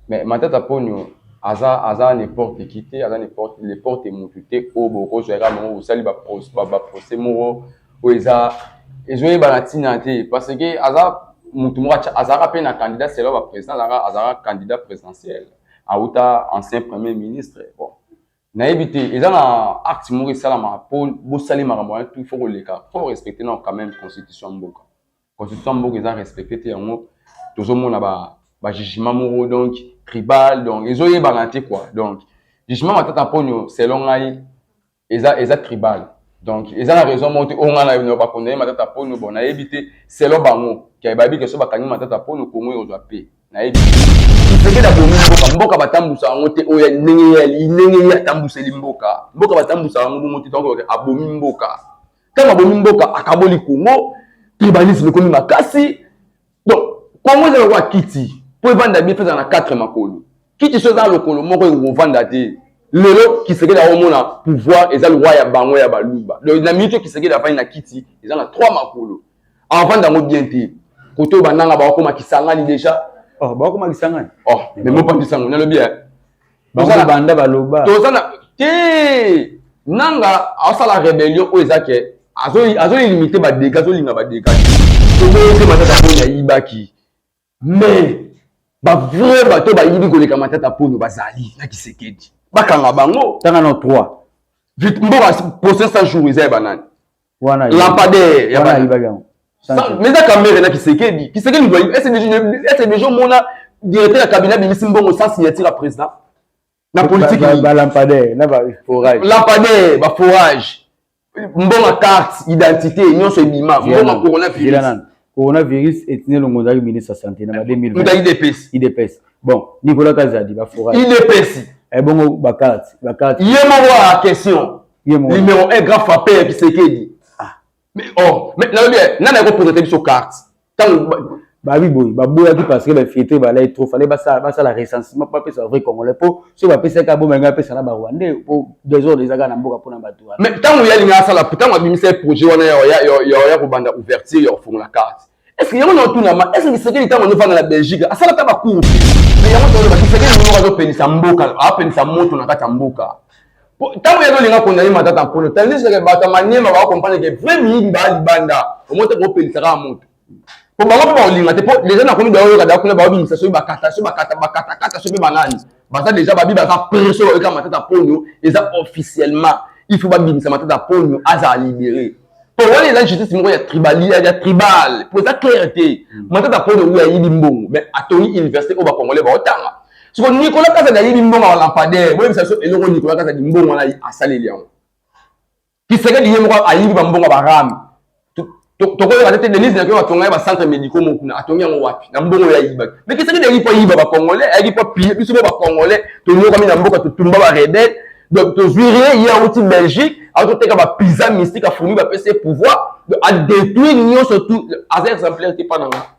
Mais Matata Ponyo aza aza n'importe qui te, aza n'importe n'importe mutu te oyo bokozwa ye kaka bango bosali ba procès ba, ba procès moko oyo eza ezoyebana ntina te parce que aza mutu moko azalaka mpe na candidat selon ba président azalaka azalaka candidat présidentiel awuta ancien premier ministre bon nayebi te eza na acte moko esalamaka mpo bosali makambo wana tout faut koleka faut respecter na quand même constitution mboka constitution mboka eza respecte te yango tozomona ba ba jugement moko donc tribal donc ezoyebana te quoi donc jugement matata mponio selon ngai eza eza tribal donc eza na raison moko te oyo ngai nayo bakondane matata mponio bon nayebi te selon bango ke bayebi ke so bakangi matata mponio kongo ekozwa pe nayebi sekele abomi mboka mboka batambusa yango te oyo ndenge ndenge ye atambuseli mboka mboka batambusa yango bongo te donc abomi mboka Ntango abomi mboka, akaboli Congo, tribalisme ekomi makasi. Donc, Congo eza lokola kiti mpo evanda bien, mpe ezala na quatre makolo. Kiti so eza lokolo moko ekovanda te. Lelo Kisekedi aomona pouvoir eza loi ya bango ya Baluba. Donc, na minute Kisekedi afandi na kiti, eza na trois makolo. Avanda yango bien te. Koto bananga bakoma Kisangani deja. Oh, bakoma Kisangani. Oh, mais mopandisa yango, nalobi ya. bango banda baloba toza na te nanga asala rebellion oyo eza ke azolimite badega azolinga badega toboyote matata mpo yayibaki mais bavrai bato bayibi koleka matata mpono bazali na kisekedi bakanga bango tanga na 3 mboka procès a jour eza ya banani lampadaire ya bana mais eza kamere na kisekedi kisekedi doyi ese deja omona directeur ya cabinet abimisi mbongo sans signature ya président na politique balampadaire na baforage lampadaire baforage mbongo carte identité nyonso ebima mbongo coronavirus coronavirus etine longo ozalaki ministre ya santé na ba 2020 idps idps bon nicolas kazadi baforage idps ebongo eh, bakati bakati ye moko ya question numéro 1 grand frappe ya kisekedi ah. mais oh mais nalobi eh, nani akopresente biso carte ntango babi boye baboyaki parce que bainfiltre balai trop fale basala recensement bapesa ba vrai congolais mpo soki bapesaki aboma yango apesa na barwandais mpo desordre ezaka na mboka mpona bato wana mais ntango ye alingi asala ntango abimisaki projet wana ya kobanda ouverture ya kofungola carte estce yango na otunama estce kisekeli ntango azofanda na belgique asalaka bacour mais yango toloba kisekeli moko azopelisa mboka apelisa moto na kati ya mboka ntango yango olinga kondani matata mpolo tandiseke bato ya maniema bakokomprendre ke vrai miyibi baa libanda omote kopelisaka moto po bango mpe bakolinga te po deja nakomi da oyoka da kuna baobimisa soki bakata soki bakata bakatakata soki mpe banani baza deja babi baza pre soki bayoka matata ponyo eza officiellement il faut babimisa matata ponyo azala libere po wana eza justice moko ya tribali ya tribal po eza claire te mm. matata ponyo oyo ayibi mbongo mais atoni université oyo bacongolais baotanga siko nicolas kazadi ayibi mbongo ya balampadaire boyebisa biso eloko nicolas kazadi mbongo wana asaleli yango Kisekedi ye moko ayibi ba mbongo ba rame. Tokoyeba te Denise na koyeba tonga ya ba centre médicaux moko kuna atongi yango wapi na mbongo ya yiba. Mais Kisekedi ayibi po yiba ba congolais, ayibi po piller biso ba congolais tonyokami na mboka totumba ba rebelles. Donc tozwi rien ye awuti Belgique azoteka ba pizza mystique afumi bapesi ye pouvoir adetruire nyonso tu aza exemplaire te mpa na nga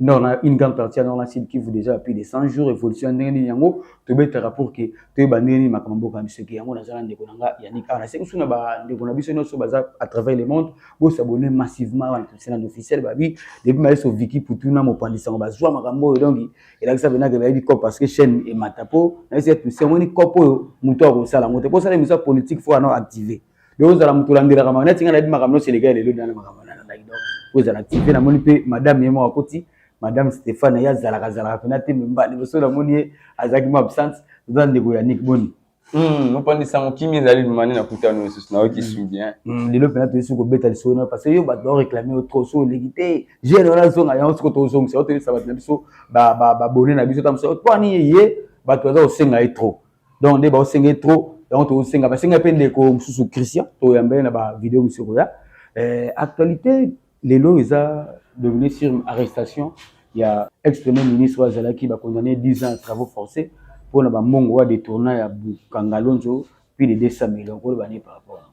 nord na une grande partie ya nord na sud kivu déjà ya plus de 100 jours évolution ya ndenge nini yango tobetaka pour que toyeba ndenge nini makambo mboka na biso eke yango naza na ndeko na nga yannick awa nasengi biso na bandeko na biso nyonso baza à travers le monde bosabone massivement awa na christian officiel babi depuis maye so viki putu na mopanzi sango bazwa makambo oyo donc elakisa mpenza ke bayebi cop parce que chaîne emata mpo nayebisi ete omoni cop oyo moto akosala yango te mpo osala emission ya politique fo ana active yo ozala moto olandelaka makambo neti ngai nayebi makambo nyonso eleka ya lelo nana makambo nalandaki donc ozala ti mpe namoni mpe madame ye moko akoti madame stéphane ye azalaka azalaka mpena te memba liboso namoni ye azalaki mo absence oza ndeko ya nik boni Hmm, opandisa yango kimi ezali lumani na kuta no lisusu nayoki hmm. su bien hmm, lelo mpena toyesi kobeta lisolo na parce que yo bato baoreklame yo trop so oleki te jeune wana azonga yango soko tozongisa yo toyebisa bato na biso babone na biso ta mosu mponi ye bato baza kosenga ye trop donc nde baosenge trop yango tosenga basenga mpe ndeko mosusu christian toyamba ye na bavideo mosusu ekoya eh, actualité lelo eza devenu sur arrestation ya ex premier ministre oyo azalaki bacondamne 10 ans ya travaux forcés mpo na bambongo oyo adetourna ya bukangalonzo puis de 200 millions koloba nde par rapport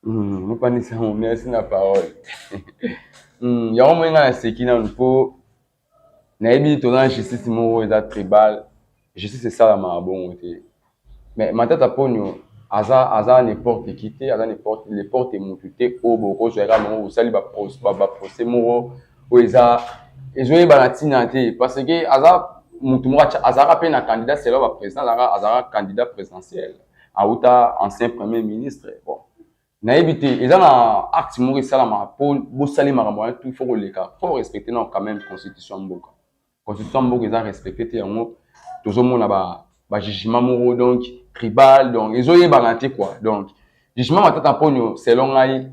hmm, mopanisi yango merci na parole hmm, yango moi ngai naseki nanu mpo nayebi toza na justice moko eza tribal justice esalamaka bongo te mais matata ponio aza aza n'importe qui te aza n'importe n'importe mutu te oyo bokozwa kaka bango osali ba procès moko oyo eza ezoyebana ntina te parce que aza mutu moko azalaka mpe na candidat selo ba président azalaka candidat présidentiel awuta ancien premier ministre bon nayebi te eza na acte moko esalamaka mpo bosali makambo wana tout faut koleka faut respecte nao quand même constitution ya mboka constitution ya mboka eza respecte te yango tozomona bajugement ba moko donc tribal donc ezoyebana te quoi donc jugement matata mponio selon ngai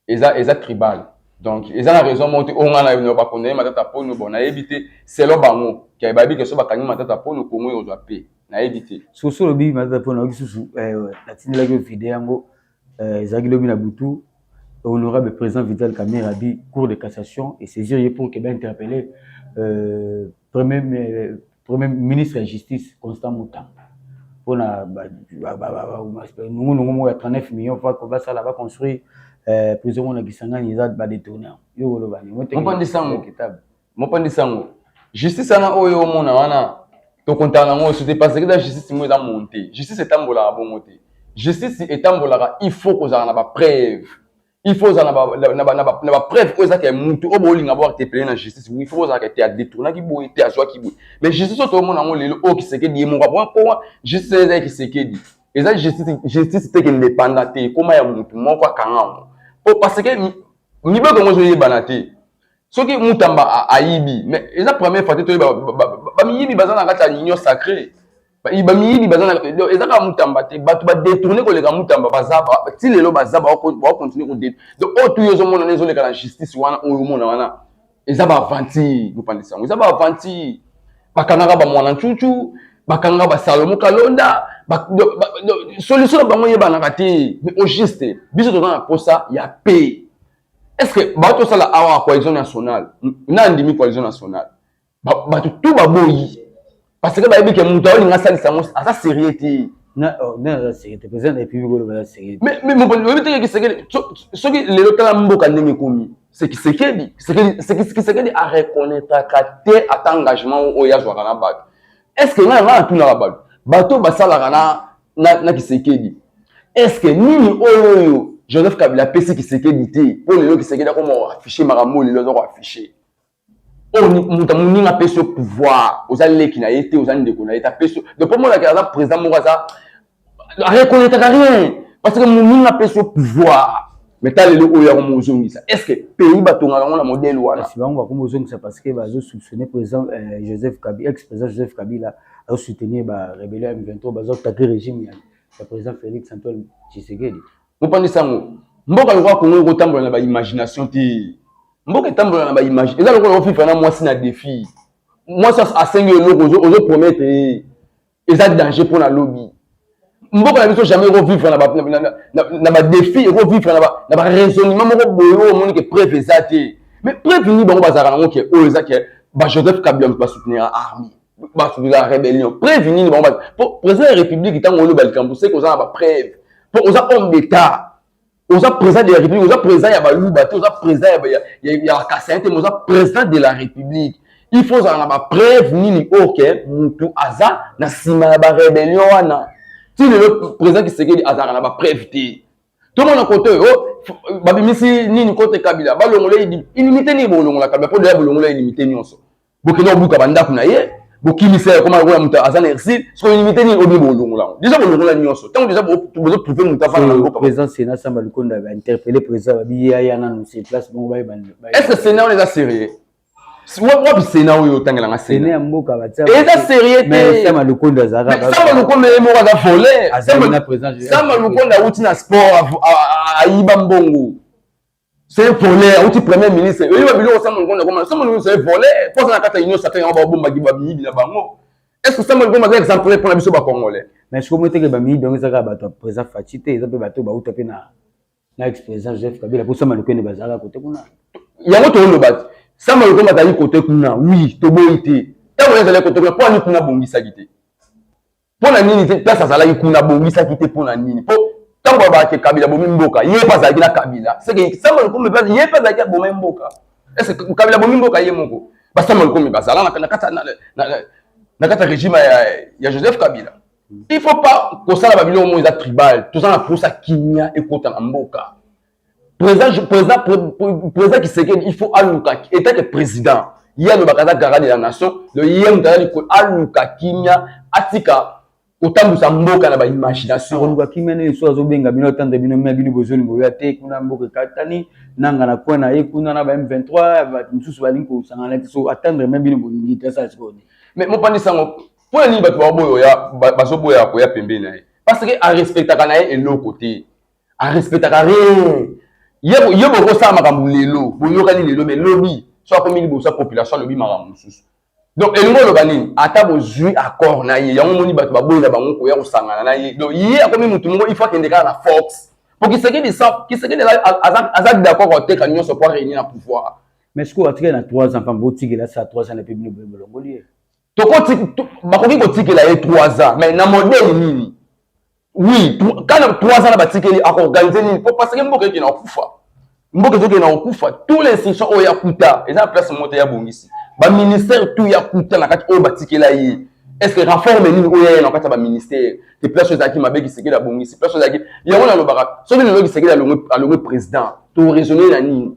eza, eza tribal donc eza na raison moko te oyo ngai na yo bakondane matata mponio bon nayebi te selon bango ke bayebi ke so bakangi matata mponio kongo ekozwa mpe nayebi te soso olobi matata mpo nayoki susu eh, natindelaki yo video yango eh, ezalaki lobi na butu honorable président vital kamere abi cour de cassation et saisir ye pour keba interpelle euh, premier, euh, premier ministre ya justice constant mutamba mpo na nungunungu moko ya 39 million fa basala baconstruire euh, prison moko na kisangani eza badetourner yo oloba ningo te Mopandi sango, justice wana oyo omona wana tokontana nango osu te parce que eza justice moko eza monte. Justice etambolaka bongo te. Justice etambolaka il faut kozala na bapreuve. Il faut ozala na bapreuve oyo ezaka ya mutu oyo bolinga bo atepele na justice. Il faut ozalaka te adetournaki boye te azwaki boye. Mais justice oyo toomona yango lelo oyo Kisekedi ye moko apona mpo justice eza ya Kisekedi. Eza justice, justice te kende epanda te ekoma ya mutu moko akanga yango. Mpo parce que mibeko yango ezoyebana te. soki mutamba ayibi mais eza première fois te toyeba bamiyibi baza na kati ya union sacré bamiyibi baza na eza kaka mutamba te bato badetourne koleka mutamba baza ti lelo baza baokontinue kode donc oyo tuyo ezomona na ezoleka na justice wana oyo omona wana eza baaventure bopandisa yango eza baaventure bakangaka bamwana ncucu bakangaka basalomo kalonda solution na bango eyebanaka te mais au juste biso toza na mposa ya paix est ce que bato osala awa coalition nationale na andimi coalition nationale bato tu baboyi parce que bayebi ke moto aolinga asalisa yango aza sérieux te oh, oyebi teke kisekeli soki lelo tala mboka ndenge ekomi sekisekeli kisekeli areconnaitraka te ata engagement oyo azwaka na bato est ce que ngai ngai natunaka bato bato basalaka na na, na kisekedi eske nini oyo oyo joseph kabila apesi kisekedi te mpo lelo kisekedi akoma affiche makambo lelo aza koaffiche oyo moto moninga apesi yo pouvoir oza leki na ye te oza ndeko na ye te apesi donc mpo monaka aza président moko aza arekonetaka rien parce que moninga apesi yo pouvoir mais ta lelo oyo yango mozongisa est ce que pays batongaka yango na modele wana kasi bango bakomi ozongisa parce que bazo soupçonne président euh, joseph kabila ex président joseph kabila azo soutenir ba rebellion ya m23 bazo attaquer régime ya ya président félix antoine tshisekedi mopandisa yango mboka lokola kongo ekotambola na baimagination te mboka etambola na baimage eza lokola ofifa na mwasi na defi mwasi asengi eloko ozo promettre ye eza danger mpo na lobi mboka na biso jamais ekovivre na badefi ekovivre na baraisonnement moko boye oyo omoni ke preuve eza te mais preuve nini bango bazalaka nango ke oyo eza ke bajoseph kabila moto basoutenira armée basoutenira rébellion preuve nini bango po président ya république ntango oloba likambo seke oza na bapreuve po oza homme d'état oza président de la république oza président ya baluba te oza président ya kasai te mais oza président de la république il faut ozala na bapreuve nini oyo ke motu aza na nsima ya barébellion wana ti lelo président kisekedi azalaka na bapreuve te tomona kote oyo oh, babimisi nini kote kabila balongola inimité nini bolongola kabila mpo deya bolongola inimité nyonso bokende kobuka bandako na ye bokimisa ye koma lokola moto aza na exil soki olimite nini obi bolongola yango deja bolongola nyonso ntango deja bozotrouve moto afana na mboka président sénat samba lukonda bainterpele président babi ya ya nanu se place bongo baye est ce que sénat wana eza sérieux wapi sénat oyo otangelanga sénat ya mboka batia eza sérieux te samba lukonda azalaka samba lukonda ye moko aza volet samba lukonda awuti na sport ayiba mbongo C'est un voleur, auti premier ministre. Oyebi ba biloko Samuel Ngonda koma. Samuel Ngonda c'est un voleur. Posa na kata union sacrée yango ba bomba ki ba miyibi na bango. Est-ce que Samuel Ngonda c'est exemple pour na biso ba congolais? Mais siko mo teke ba miyibi yango ezaka bato ya président Fatshi te, eza pe bato ba uta pe na na ex-président Joseph Kabila po Samuel Ngonda bazalaka kote kuna. Yango to loba te. Samuel Ngonda azali kote kuna. Oui, to boyi te. Tango ezali kote kuna, po ani kuna bongisaki te. mpo na nini te place azalaki kuna abongisaki te mpo na nini mpo ntango abaki kabila abomi mboka ye mpe azalaki na kabila seke sama lokomi ye mpe azalaki abomai mboka ese kabila abomi mboka ye moko basama lokomi bazala na kati ya regime ya joseph kabila il faut pas kosala babiloko moko eza tribal toza na mposa kimia ekota na mboka Président, président, président Kisekedi, il faut aluka, étant que président, il y a le Bakada Gara de la nation, le Yem Gara du aluka kimia, atika, kotambusa mboka na ba imagination. Aluka kimia ne so azo benga bino tande bino mia bino bozoli boya te kuna mboka katani nanga na coin na ye kuna na ba M23 ba misusu balingi kosangana te so attendre mia bino bolingi te sala sikoyo. Mais mopandi sango mpo na nini bato baoboya bazoboya koya pembeni na ye parce que arespectaka na ye eloko te a respectaka rien ye bokosala makambo lelo boyokani lelo me lobi so akomi liboso ya population alobi makambo mosusu donc elingi oloba nini ata bozwi accord na ye yango omoni bato baboyi na bango koya kosangana na ye donc ye akomi motu moko il faut akende kaka na force po kisekedi sa kisekedi aza d'accord koteka nyonso po areunir na pouvoir mais sikoyo atikali na 3 ans pambo otikela sa 3 ans na pe bino boye bolongoli ye bakoki kotikela ye 3 ans mais na modele nini oui kana 3 ans na batikeli akoorganize nini po parce que mboka ekena kokufa mboka ezokena kokufa tout l'institution oyo ya kuta eza na place moko te ya bongisi baministère tout ya kuta na kati oyo batikela ye est ce que reforme nini oyo yaya na kati ya baministère te place oyo ezalaki mabe kisekeli abongisi place oyo ezalaki yango nalobaka soki lelo kisekeli alongwe président to raisonne na nini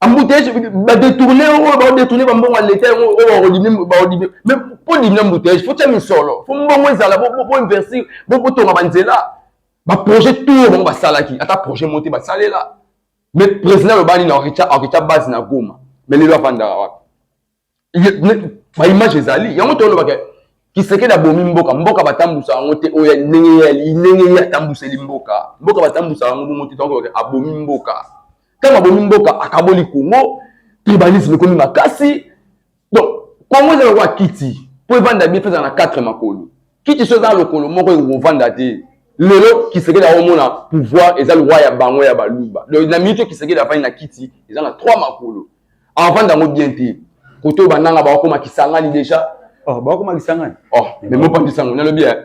embouteillage ba détourner oyo ba détourner ba mbongo ya leta yango oyo ba kodimi ba kodimi mais po dimi embouteillage faut tia misolo faut mbongo ezala bo bo investir bo bo tonga ba nzela ba projet tout bango ba salaki ata projet moté ba salela mais président le bani na okicha okicha base na Goma mais lelo afanda wapi ba image ezali yango tolobaka kisekedi abomi mboka mboka batambusa yango te oyo ndenge ye ndenge ye atambuseli mboka mboka batambusa yango bongo te tokobaka abomi mboka ntango abomi mboka akaboli kongo tribalisme ekomi makasi donc kongo eza lokola kiti mpo evanda bie mpe eza na 4 makolo kiti so eza lokolo moko ekovanda te lelo kisekedi akomona pouvoir eza lwa ya bango ya baluba donc na miniti oyo kisekedi afandi na kiti eza na trois makolo avanda yango bien te kote oyo bananga bakokoma kisangani deja oh, bakokoma kisangani oh, me mopandisa yango nalobi eh.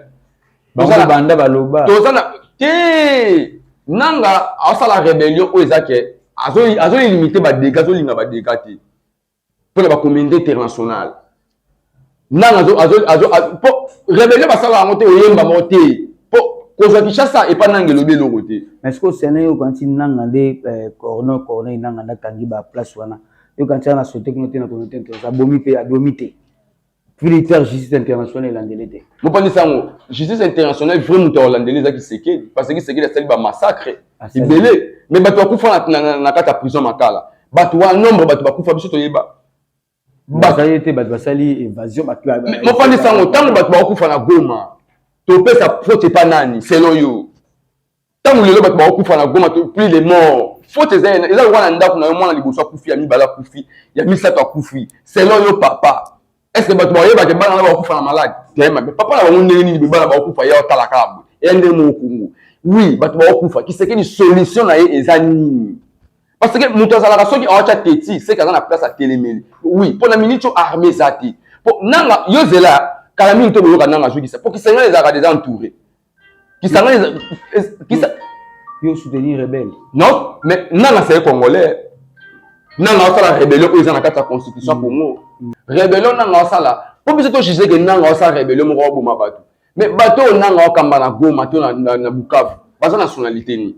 banda baloba toza na te nanga asala rebellion oyo eza ke azolimite badega azolinga badega te mpo na bacommunauté internationale nanga po rebelio basala yango te oyemba moko te po kozwa kinshasa epa nanga elobi eloko te mais sikoyo sene yo okanisi nanga nde eh, corno corneille nanga nde akangi baplace wana yo okanisi ana sote kuna te na communauté internationale abomi mpe adomi te Militaire justice internationale elandeli te. Mopandi sango justice internationale vrai moto alandeli eza Kisekedi parce que Kisekedi asali ba massacre ebele mais bato bakufa na, na, na kati ya prison makala bato wana nombre bato bakufa biso toyeba bazali te bato basali évasion bato mopandi sango ntango bato bakufa na Goma topesa faute epa nani selon yo ntango lelo bato bakokufa na goma to plus les morts faute eza ena eza lokola na ndako na yo mwana liboso akufi ya mibale akufi ya misato akufi selon yo papa est ce que bato bakoyebake bana na bakokufa na malade te mabe papa na bango ndenge nini bebana bakokufa ye otala kaka boye eya ndenge moko kongo oui bato bakokufa kisekeli solution na ye eza nini parce que moto azalaka soki awatya teti seke aza na place atelemeli oui mpo na miniti oyo arme eza te mpo nanga yo zela kala mingi to boyoka nanga azwikisa mpo kisangani ezalaka deja entouré Kisangani kisa yo soutenir rebelle. Non, mais nana c'est congolais. Nana osala rébellion oyo eza na kati ya constitution ya mm. Congo. Mm. Rébellion nana osala mpo biso to juge ke nanga osala rébellion moko aboma bato. Mais bato oyo nanga okamba na Goma to na, na, na Bukavu baza nationalité nini?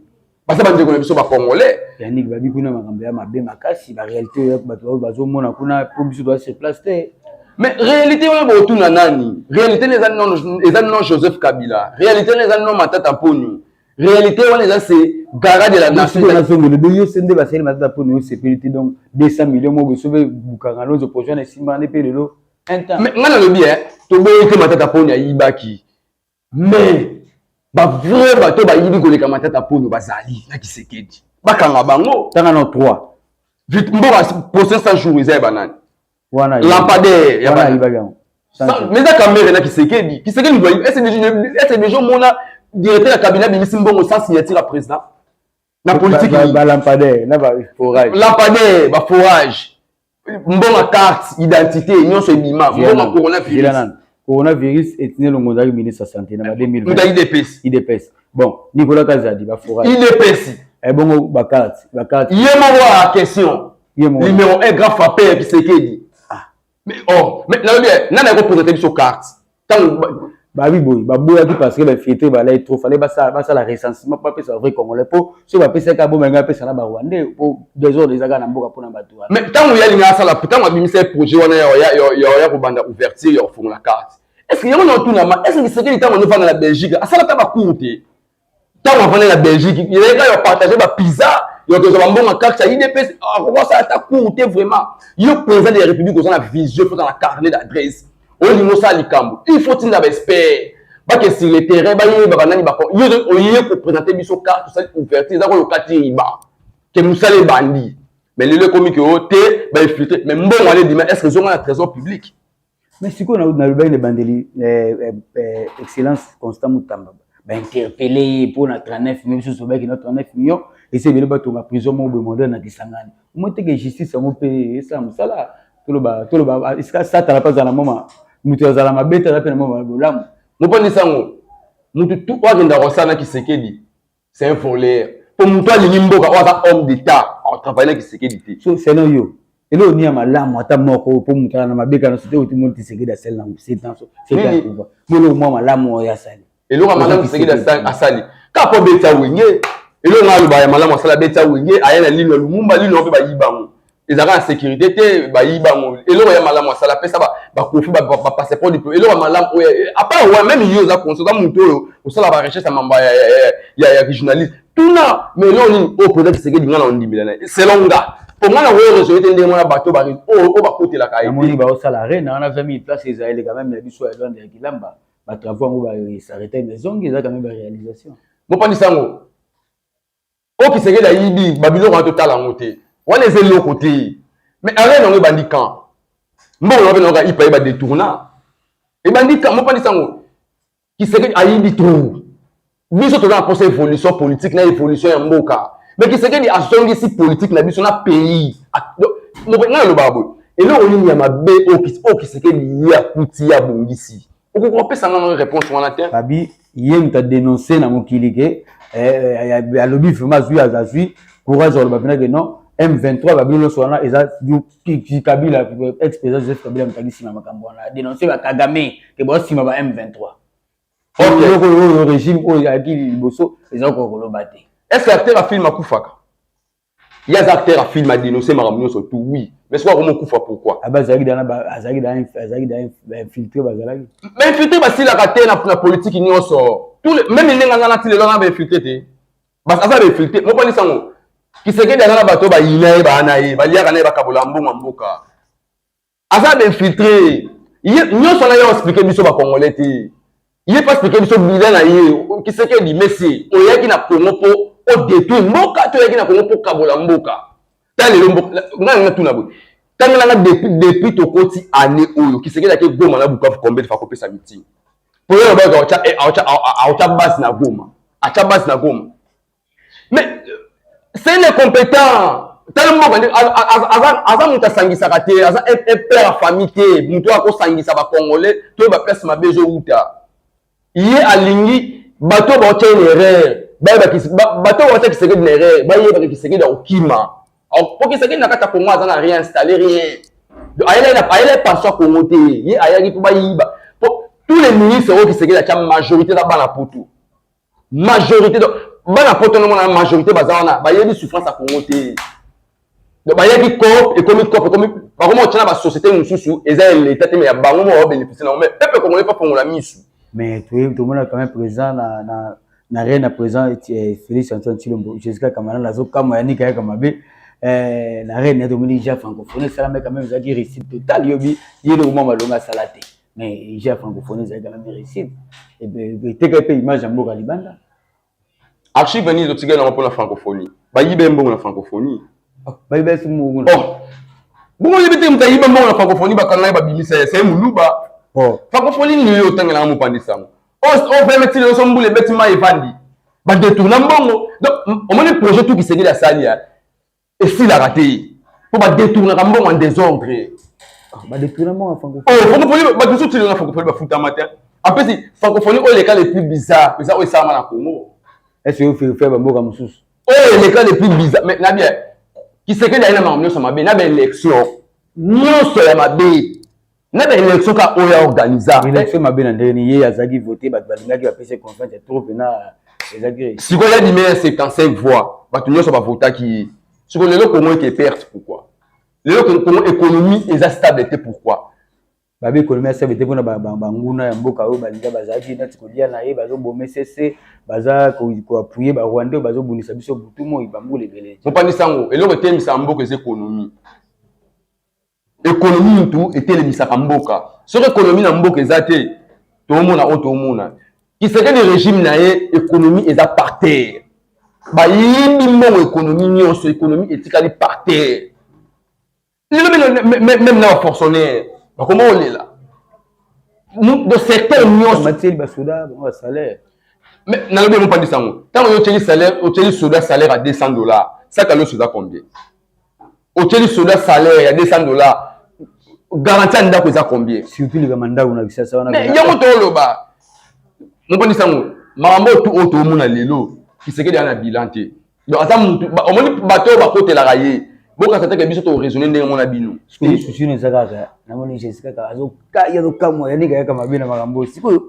baza bandeko na biso bacongolais yaniki babi kuna makambo ya mabe makasi barealité bato oyo bazomona kuna mpo biso toza sur place te mais réalité wana botuna nani réalité na eza non eza non joseph kabila réalité na eza non matata mponio réalité wana eza se gara de la nationazongeli bo yo se nde basali matata mponio yo sepeli te donc 200 million moko esobe bukanga lonzo projet wana esimbana nde mpe lelo ngai nalobi e toboyi te matata mponio ayibaki mais ba vrai bato bayibi koleka matata polo bazali na kisekedi bakanga bango tanga na 3 vite mboka procès 100 jours eza ya banani wana lampadaire ya banani mais eza kamere na kisekedi kisekedi doyi ese deja omona directeur ya cabinet abimisi mbongo sans signature ya président na politique ba lampadaire na ba forage lampadaire ba forage mbonga carte identité nyonso ebima mbonga coronavirus coronavirus etine longo ozalaki ministre ya santé na ba 2000 muta idps idps bon nicolas kazadi ba forage idps ebongo eh, ba carte ba carte ye moko a question numéro 1 grand frappeur kisekedi ah. Mais oh, mais na lobi eh, nana ko poser biso carte. Tango babi boye baboyaki parce que bainfiltre balai trop fale basala recensement mpo apesa vrai congolais mpo soki bapesaki aboma yango apesa na barwandais mpo desordre ezaka na mboka mpona bato wana mais ntango ya linga asala ntango abimisa ye projet wana ya kobanda ouverture ya kofungola carte est ce que yango na otunama est ce que lisekeli ntango azofanda na belgique asala ata bacour te ntango afandi na belgique yeka ya partage bapizza ya kozwa bambongo ya karte ya idps akoki asala ata cour te vraiment yo président de la république oza na vision mpe oza na carnet d'adresse olingi osala likambo il faut tinda baexpert bake sur le terrain bayeba banani bako yo oye kopresente biso karte osali ouverture eza koyoka ti riba ke mosala ebandi mais lelo ekomi ke o te baefiltre mais mbongo ale ebima est ce que ezonga na trésor public Mais sikoyo na nalobaki na ebandeli eh, eh, eh, excellence constant mutamba bainterpele ye mpo na 39 million biso tobaki na 39 million esi ebele batonga prison moko boye mondele na kisangani omoteke justice yango mpe esala mosala toloba toloba ah, esika satana mpe azala moma moto azala mabe te aza mpe na moma bolamu moponi sango moto tu oyo akendaka kosala na kisekedi c'est un foler po moto alingi mboka oyo aza homme d'état atravaille na kisekedi te so seno yo eloko nini ya malamu ata moko oyo po moto ala na mabe kana so te otimoni tisekedi asali nango setanso setakuva moloko mwa malamu oyo asali eloko ya malamu tisekedi asali kaka po abeta wenge eloko nga aloba ya malamu asali abeta wenge aya na lino ya lumumba lino mpe bayibango ezalaka na sécurité te bayiba yango eloko ya malamu asala apesa bakofi bapasseport diplo eloko ya malamu oyo eh, apart oyo meme yo oza konso oza moto oyo osala barecherche ya mambo ya journaliste tuna ma eloko nini oyo président tshisekedi nga na ondimela na ye selon nga po nga na oyo resoye te ndenge wana bato oyo bakotelaka yemoni baosala arena wana 20 000 place eza eleka meme ya biso ya lwanda ya kilamba batravaux yango baesarreta ezongi eza quand meme baréalisation mopandisa yango oyo kisekedi ayibi babiloko wana totala yango te wana eza eloko te mais arena yango ebandi kan mbongo yango mpe nayoka ipa ye badetourna ebandi kan mopandisi yango kisekedi ayibi trop biso toza na mposa évolution politique na évolution ya mboka me kisekedi azongisi politike na biso na pays ngai alobaka boye eloko nini ya mabe oyo kisekedi ye akuti ye abongisi okoki kopesa nga ngai réponse wana te fabi ye moto adénonce na mokili ke eh, eh, alobi vraiment azwi azwi courage aloba mpena ke non m23 babino nyonso wana eza kabila ex président joseph kabila moto akisima makambo wana adénonce bakagame ke baosima ba m23 eloko oyo régime oyo ayaki liboso eza kokoloba te est ce que acteur ya filme akufaka Ye aza acteur ya film a denoncer makambo nyonso tout oui mais soki akomi okufa pourquoi Aba azalaki dana ba azalaki dana azalaki dana ba infiltré bazalaki. Ba infiltré basilaka te na na politique nyonso. Tout le même elenga nga nati lelo na ba infiltré te. Bas aza ba infiltré moko ni sango. Kisekedi aza na bato ba yina ye ba na ye ba liaka na ye ba kabola mbongo mboka. aza d'infiltre ye nyonso na ye explike biso bacongolais te ye mpe explike biso bila na ye kisekedi mesi oyaki na congo mpo odetruire mboka to oyaki na congo mpo kabola mboka ta lelo ngai natuna boye tangela nga depuis depuis tokoti année oyo kisekedi ake goma na bukavu combien de fois akopesa mitingi mpo yo lobayaka aotya base na goma atya base na goma mais c'est le compétent tala moko nde aza moto asangisaka te aza père ya famille te moto oyo akosangisa bacongolais to baplace mabe ezowuta ye alingi bato baotya ye na erreur bato baotya kisekedi na erreur bayebaka kisekedi akokima po kisekedi na kati ya congo aza na rien installe rien ayela epanso ya congo te ye ayaki mpo bayiba po tous les ministres oyo kisekedi atya majorité na bana poto majorité donc bana poto na mona majorité baza wana bayebi souffrance ya congo te donc bayebi coop ekomi coop ekomi bakoma otyana basociété mosusu eza ya leta te me ya bango moko babénéficie nango me pepe congolais pafongola misu mais toyebi tomona quand même président na, na, na rien na président eh, félix antoine tshilombo jésus-ka kamana nazokamwa ya nika yaka mabe eh, na rien ya tomoni ja francophonie esalama quand même ezalaki réussite total yobi ye lokomwa malonga asala te mais ja francophonie ezali kaka mericide eteka mpe image ya mboka libanda archive nini totikali yango mpona francophonie bayiba ye mbongo na francophonie oh, bayiba ye mbongo oh. bongo yebi te moto ayiba mbongo na francophonie bakanga ye babimisa ye se moluba oh. francophonie nini yo otangelanga mopandisi yango oveme ti leloso mbula ebeti mai evandi badetourna mbongo donc omoni projet tu kisengeli asali ya esilaka te mpo badetournaka mbongo en desordre ah, badetourna mbongo ya francophonie oh, francophonie bato mosusu tilona francophonie bafutama te apesi francophonie oyo eleka le plus bizarre eza oyo esalama na congo ese yo ferifere bamboka mosusu oyo eleka le plus bizarre mais na bien kisekeli aye na makambo nyonso mabe na baélection nyonso ya mabe na ba élection ka oyo ya organisa élection mabe na ndenge ni ye azalaki vote bato balingaki bapesa confiance ya trop mpena ezalaki sikoyo ya bimei ya 75 voix bato nyonso bavotaki ye sikoyo lelo kongo eke perte pourquoi lelo kongo économie eza stable te pourquoi babe économie ya stable te mpona banguna ya mboka oyo balinga bazalaki nati kolia na ye bazoboma esese baza koapuye barwandais oyo bazobundisa biso butu moi bambula ebele mopandisango eloko eteyemisa mboka eza économie Ekonomi mutu etelemisaka mboka. Soki ekonomi na mboka eza te, toomona oyo toomona. Kisekedi regime na ye ekonomi eza par terre. Bayibi mbongo ekonomi nyonso, ekonomi etikali par terre. Lelo meme na ba fonctionnaire bakoma kolela do secteur nyonso batieli basoda bango basalaire nalobi yango mpandisa yango ntango yo otyeli salaire otyeli soda salaire ya 200 dollars saka loso eza combien otie lisolo ya salaire ya 200 dollars garanti ya ndako eza combien surtout likama ndako na kisasa wana yango toloba moponi sango makambo oyo oyo toomona lelo kisekedi ana bilan te donc aza mutu omoni bato oyo bakotelaka ye bokasa teke biso toraisonne ndenge mona bino susuni eza kaka namoni jesi kaka azokamwa yanika yaka mabe na makambo oyo sikoyo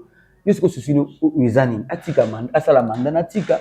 yo sikoyo susuni eza nini atika asala manda natika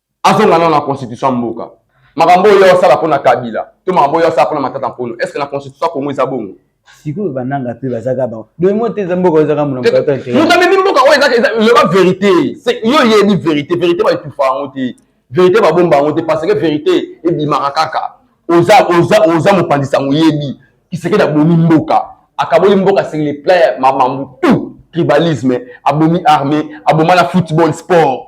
azonga nano na constitution ya mboka makambo oyo asala mpo na kabila to makambo oyo asala mpo na matata mpono est ce que na constitution ya kongo eza bongo sikoyo bananga mpe bazaka bango domo te eza mboka oyo ezaka moto amemi mboka oyo ezaloba verité yo oyebi verité verité baetufa yango te verité babomba yango te parce que verité ebimaka kaka oza oza oza mopanzi sango oyebi kisekedi abomi mboka akaboli mboka sur le plan ya mamambu tout tribalisme abomi armée aboma na football sport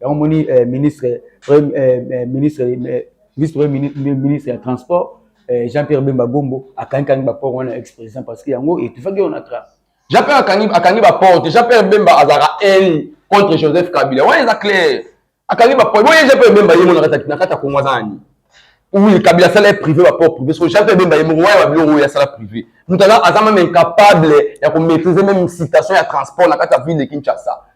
yango moni eh, ministre premier eh, eh, ministre eh, vice premier ministre ya transport eh, jean pierre bemba gombo akangi kangi ba port wana ex président parce que yango etufaki on a tra jean pierre akangi akangi ba port jean pierre bemba azalaka haine contre joseph kabila wana eza clair akangi ba port boye jean pierre bemba ye mona kata na kata kongo azani oui kabila asala ye privé ba port privé so jean pierre bemba ye moko wana ba biloko oyo asala privé moto aza même incapable ya ko maîtriser même citation ya transport na kati ya ville de kinshasa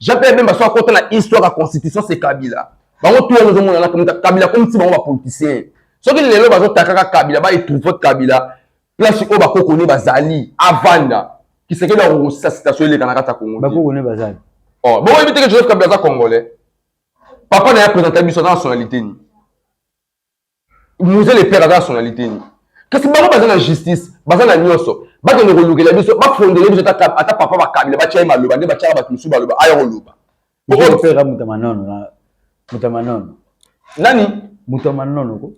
Jean Pierre Bemba so akota na histoire ya constitution c'est Kabila. Bango tout ozo mona na Kabila comme si bango ba politiciens. Soki lelo bazo takaka Kabila ba etrouver Kabila place oyo bakoko ne bazali avanda kisekedi akokosisa citation eleka na kati ya kongo bakoko ne bazali oh, boyebi teke joseph kabila aza congolais papa na ye apresenta biso aza nationalité nini Mose le père aza nationalité nini? Kasi bango baza na justice, baza na nyonso. Bakende kolukela biso, bafondele biso ata ata papa bakabila batya ye maloba nde batyaka bato mosusu baloba aya koloba. Mose le père amuta manono na muta manono. Nani? Muta manono ko.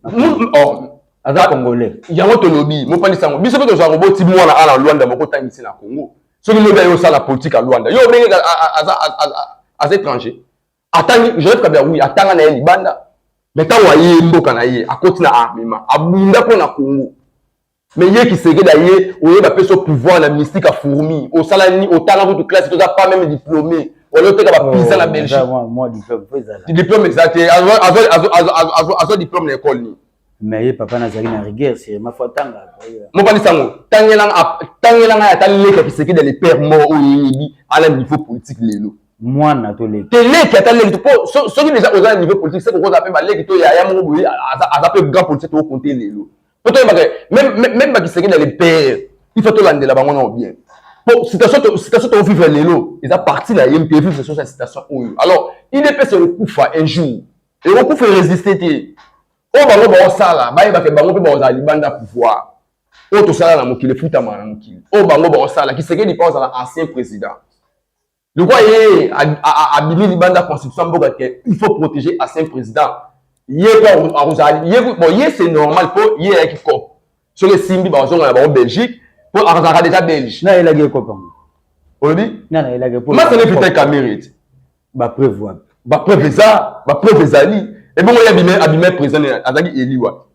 Oh. Aza congolais. Yango tolobi, mopalisa yango. Biso mpe tozwa koboti mwana ala Luanda moko tangisi na Congo. Soki lobi ayo sala politique ya Luanda. Yo obenge aza aza étranger. atangi joseph kabila oui atanga na ye libanda me ntango aye mboka na ye akoti na armement abunda mpo na congo me ye kisekedi aye oye bapesi pouvoir na mystique ya fourmi osala nini otanga kutu classe toza pas meme diplôme wala oteka bapisa na belgique diplôme eza te azwa diplôme na ekole nini mais ye papa nazali na rigueur sirima fo atanga mobali sango tangela ngai ata leka kiseke de lepere moko oyo eyebi ala niveau politique lelo mwana toleki teleki ata leki po soki deja oza na niveau politique se kokozala mpe baleki to yaya moko boye aza mpe grand politique tokokonte lelo mpo toyebaka meme bakiseke de lepere il faut tolandela bango nao bien po citation tovivre lelo eza parti na ye mpe vivre soso ya citation oyo alors idps ekokufa un jour ekokufa eresiste te oyo bango baosala bayebake bango mpe bakozala libanda pouvoir oyo tosala na mokili efutama na mokili oyo bango baosala kisekedi mpe ozala ancien président lokwa ye abimi libanda constitution mboka ke il faut protéger ancien président ye mpe akozala ye bon ye c'est normal mpo ye ayaki cop soki esimbi bazonga na bango belgique mpo akozalaka deja belge na elaki ekopa olobi masana efita kamerete ba preuve wapi ba preuve eza ba preuve ezali ebongo ye abime abime président azaki élu wapi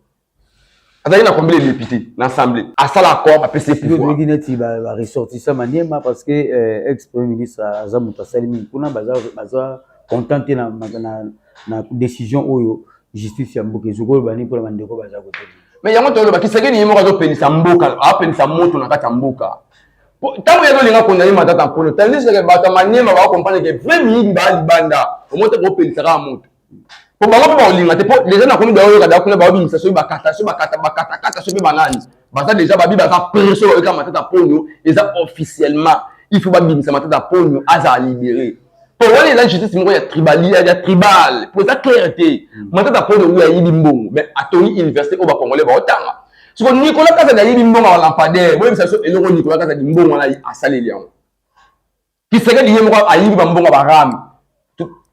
azali na combien de députés na assemblée asala accord apesi pouvoiroloki neti baressortissant maniema parce que euh, ex premier ministre aza moto asali mingi kuna baza content te na décision oyo justice ya mboka ezoki oloba nini mpona bandeko baza kote mais yango toloba kisekeni ye moko azopelisa mboka apelisa moto na kati ya mboka ntango ye azolinga kondane matata mpolo tandis ke bato ya maniema bakokomprendre ke vrai miyibi baa libanda omoi te kopelisa kaka moto mpo bango mpe bakolinga te mpo deja nakomi baoyoka da kuna baobimisa soki bakata soki bakata bakatakata soki mpe banani baza deja babi baza preso bayoka matata mponyo eza officiellement il faut babimisa matata mponyo azala libere po wana eza justice moko ya tribal ya tribal po eza claire te mm. matata pole oyo ayibi mbongo mais atoni université oyo bacongolais baotanga soko nicolas kazadi ayibi mbongo ya lampadaire boyebisa biso eloko nicolas kazadi mbongo wana asaleli yango kisekedi ye moko ayibi bambongo ya barame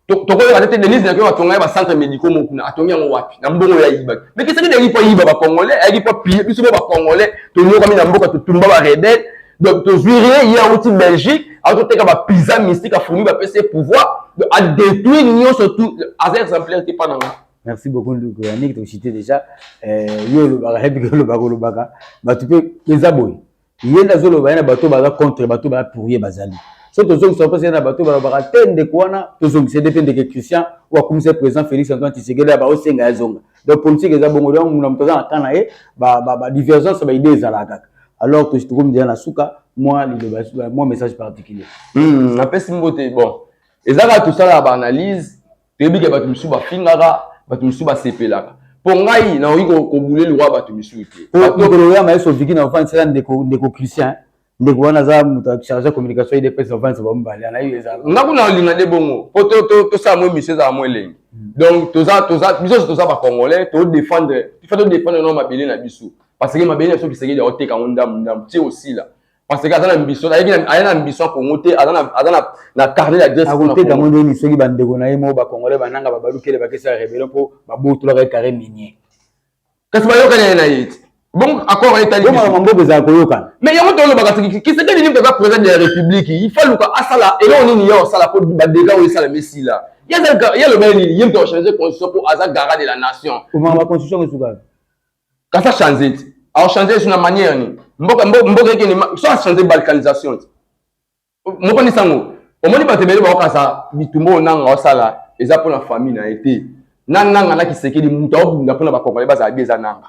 tokoyeba te denise nakoyo batonga ye bacentre médicaux moko kuna atongi yango wapi na mbongo oyo ayibaki mais kisekedi ayaki mpo ayiba bacongolais ayaki mpo apiye biso mpo bacongolais tonyokami na mboka totumba barebele donc tozwi rien ye awuti belgique azoteka ba pizza mystique afumi bapesi ye pouvoir adétruire nyonso tout aza exemplaire te mpa na nga merci beaucoup nduku yaniki tokosite déjà eh, yo olobaka yebiki olobaka olobaka bato mpe eza boye ye nde azoloba ye na bato baza contre bato baya pour ye bazali so tozongisa mpesa ye na bato balobaka te ndeko wana tozongisa nde mpe ndeke christian oyo akumisa président félix antoine tshisekedi ya baosenga yazonga donc politique eza bongo donc muna moto aza na camp na ye badivergence ba, ba, ba baide ezalaka kaka alors que tokomi deja na suka mwa liloba mwa message particulier hmm, napesi mm, mbote bon eza kaka tosalaka baanalyse toyebi ke bato mosusu bafingaka bato mosusu basepelaka mpo ngai nakoki kobule liwa bato mosusu te mokolo oyama yesu oviki na ofandisela ndeko christian ndeko wana aza moto charge ya communication ye depesa vansi bamibale anayebi ezala nga kuna olinga nde bongo mpo tosala mwa émission ezala mwa elengi hmm. donc toza toza biso nyonso toza bacongolais todefendre ifa todefendre nao mabele na biso parce que mabele na biso bisekedi akoteka yango ndambu ndambu ti osila parce que aza na ambition ayeki aya na ambition ya congo te aza na aza na na carnet d'adresse akoteka yango ndeni soki bandeko na ye moko bacongolais bananga babalukele bakesala rebellion mpo babotolaka ye carré minier kasi bayokani ye na ye te bongo accord etali bongo mamboko ezala koyokana mais yango tolobaka soki kisekedi nini toza président de la république il faut luka asala eloko nini ye osala mpo badega oyo esala mesila ye aloba ye nini ye mpe ochange constitution mpo aza garant de la nation omama constitution esukaka kasi achange te aochange esu na manière nini mboka mboka ekende so achange balkanisation te Mokoni sango, omoni bato ebele baokasa bitumba oyo nanga osala eza mpo na famille na ye te. Na nanga na Kisekedi moto aobunda mpo na bakongole bazala bi eza nanga.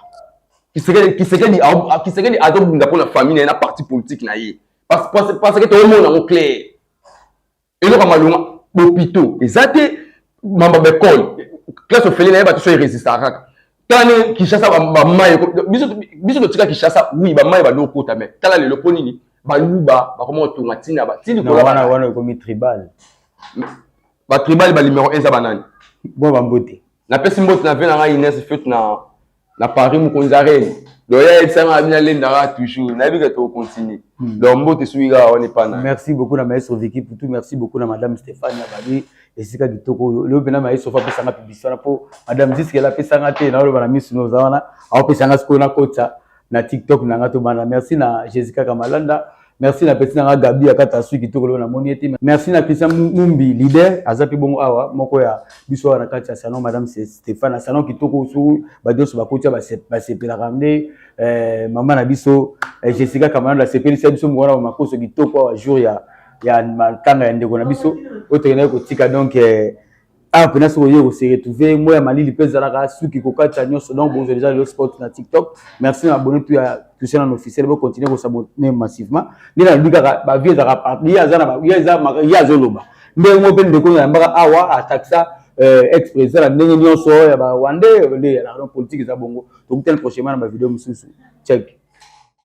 Kisekedi Kisekedi Kisekedi azobunda mpo na famille na ye na parti politique na ye. Parce parce parce que toomona yango clair. Eloko ya malonga bopito eza te mamba bekole classe ofele na ye bato so eresistaka kaka tala ndenge kinshasa bamayi biso totika kinshasa wi bamayi bando okota me tala lelo mpo nini baluba bakoma kotonga ntina batili kolwana wana ekomi tribal batribal balimero eza banani bo bambote napesi mbote na ve na ngai ines fete na na paris mokonzi arene donc ya yebisanga na bino alendaka toujours nayebi ke tokocontinue hmm. donc mbote soki kaka wana epana merci beaucoup na maestro viki putu merci beaucoup na madame stéphane abali esika kitoko oyo lelo mpena maye sofa apesanga publicité wana mpo madame ziskele apesanga te naoloba na misu noza wana aopesanga sikoyo nakota na tiktok na nga tobanda merci na jésus kaka malanda merci na peti na nga gabi akata sui kitoko lelo namoni ete merci na christian mumbi leader aza mpe bongo awa moko ya biso awa na kati ya salon madame stéphane na salon kitoko su bato nyonso bakotia basepelaka nde eh, mama na biso eh, jessica kamalanda asepelisa biso mokona makoso kitoko awa jour ya ya makanga ya ndeko na biso oyo tokendaki kotika donc eh, awa mpena soki oye koseretrouve moi ya malili mpe ezalaka suki kokatisa nyonso donc bozwa deja lelo sport na tiktok merci na abonne tu ya touche na officiel bocontinue kosabone massivement nde nalobi kaka bavie ezalaka parti ye aza na ye eza ye azoloba ndenge moko mpe ndeko nayambaka awa atakisa eh, ex président na ndenge nyonso ya barwandais nde ya la politique eza bongo tokutani prochainement na bavideo mosusu check